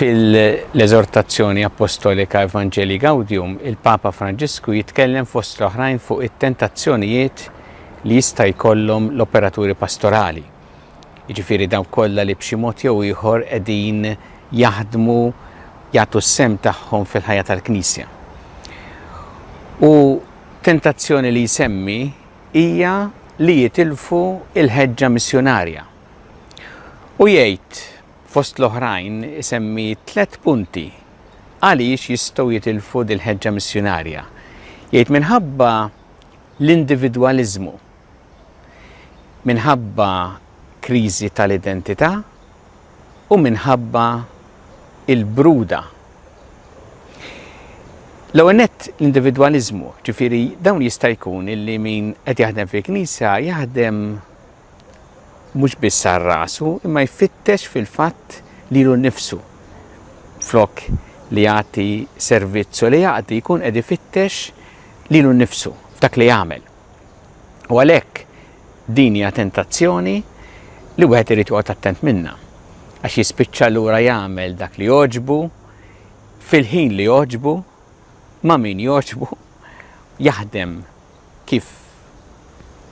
Fil-eżortazzjoni appostolika Evangelii Gaudium, il-Papa Franġisku jitkellem fost l-oħrajn fuq it-tentazzjonijiet li jista' jkollhom l-operaturi pastorali. jiġifieri dawk kollha li b'xi mod jew ieħor qegħdin jaħdmu jagħtu s-sehem tagħhom fil-ħajja tal-Knisja. U tentazzjoni li jsemmi hija li jitilfu l-ħeġġa missjunarja. U jgħid fost l-oħrajn isemmi tliet punti għaliex jistgħu jitilfu dil-ħeġġa missjunarja. Jgħid minħabba l-individwaliżmu. minħabba kriżi tal-identità u minħabba il-bruda. L-ewwel nett l-individwaliżmu, ġifieri dawn jista' jkun illi min qed jaħdem fil-Knisja jaħdem mhux biss għal rasu, imma jfittex fil-fatt lilu nnifsu. Flok li jagħti servizz u li jaqdi jkun qed ifittex lilu nnifsu f'dak li jagħmel. U għalhekk din hija tentazzjoni li wieħed irid joqgħod attent minnha għax jispiċċa lura jagħmel dak li jogħġbu fil-ħin li jogħġbu ma' min jogħġbu jaħdem kif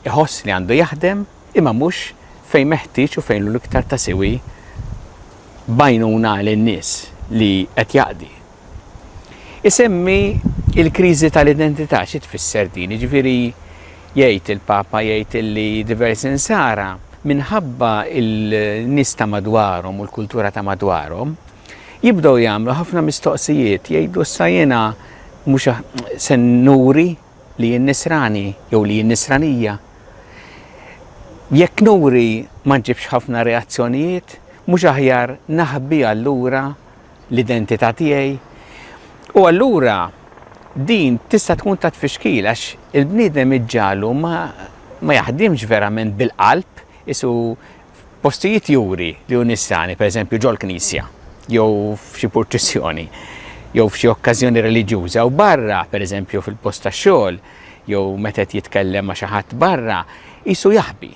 iħoss li għandu jaħdem imma mhux fejn meħtieġ u fejn l-iktar ta' siwi bajnuna għal in-nies li qed jaqdi. Isemmi l-kriżi tal-identità, xi tfisser din? Jiġifieri jgħid il-Papa jgħid li diversi Nsara minħabba n-nies ta' madwarhom u l-kultura ta' madwarhom jibdew jagħmlu ħafna mistoqsijiet, jgħidu issa jiena mhux se nuri li jien Nisrani jew li jien Nisranija? Jekk nuri ma nġibx ħafna reazzjonijiet, mhux aħjar naħbi allura l-identità tiegħi. U allura din tista' tkun ta' tfixkil għax il-bniedem iġġalu ma, ma jaħdimx verament bil-qalb isu postijiet juri li hu nissani, pereżempju ġol-knisja jew f'xi purċissjoni jew f'xi okkażjoni reliġjuża u barra, pereżempju fil-post tax-xogħol, jew meta jitkellem ma' xi ħadd barra, isu jaħbi.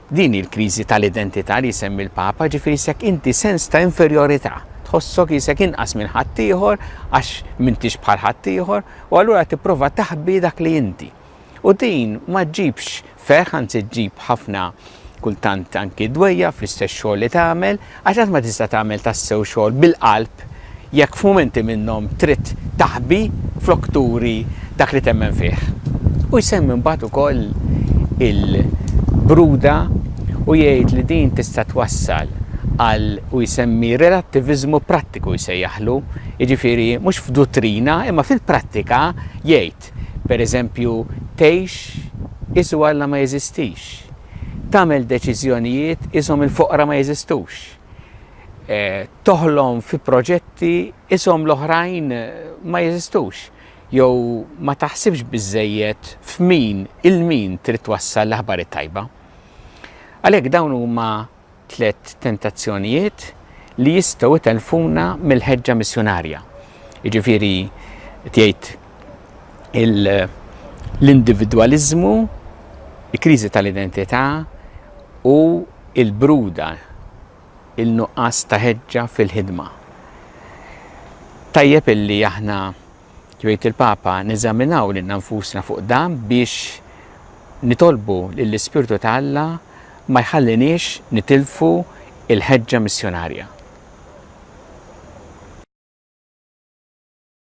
Din hi l-kriżi tal-identità li jsemmi l-Papa, ġifieri s'hekk inti sens ta' inferjorità, tħossok qisek inqas minn ħaddieħor għax m'intix bħal ħaddieħor u allura tipprova taħbi dak li inti. U din ma ġġibx ferħ anzi ġġib ħafna kultant anki dwejjaq fl-istess xogħol li tagħmel, Għax qatt ma tista' tagħmel tassew xogħol bil-qalb jekk f'mumenti minnhom trid taħbi flok turi dak li temmen fih. U jsemmi mbagħad ukoll il-bruda u jgħid li din tista' twassal għal u jsemmi relattiviżmu prattiku jsejjaħlu, jiġifieri mhux f'duttrina imma fil-prattika jgħid, tgħid, pereżempju, tgħix is u Alla ma jeżistix, tagħmel deċiżjonijiet ishom il-foqra ma jeżistux, toħlom fi proġetti ishom l-oħrajn ma jeżistux, jew ma taħsibx biżżejjed f'min, il-min trid twassal l-aħbar it-tajba. Għalhekk dawn huma Tliet tentazzjonijiet li jistgħu jtellfuna mill-ħeġġa missjunarja. Jiġifieri tgħid l-individwaliżmu, il-kriżi tal-identità u l-bruda, il-nuqqas ta' ħeġġa fil-ħidma. Tajjeb illi aħna jgħid il-Papa, neżaminaw lilna nfusna fuq dan biex nitolbu lill-Ispirtu ta' Alla ma jħalliniex nitilfu l-ħeġġa missjunarja.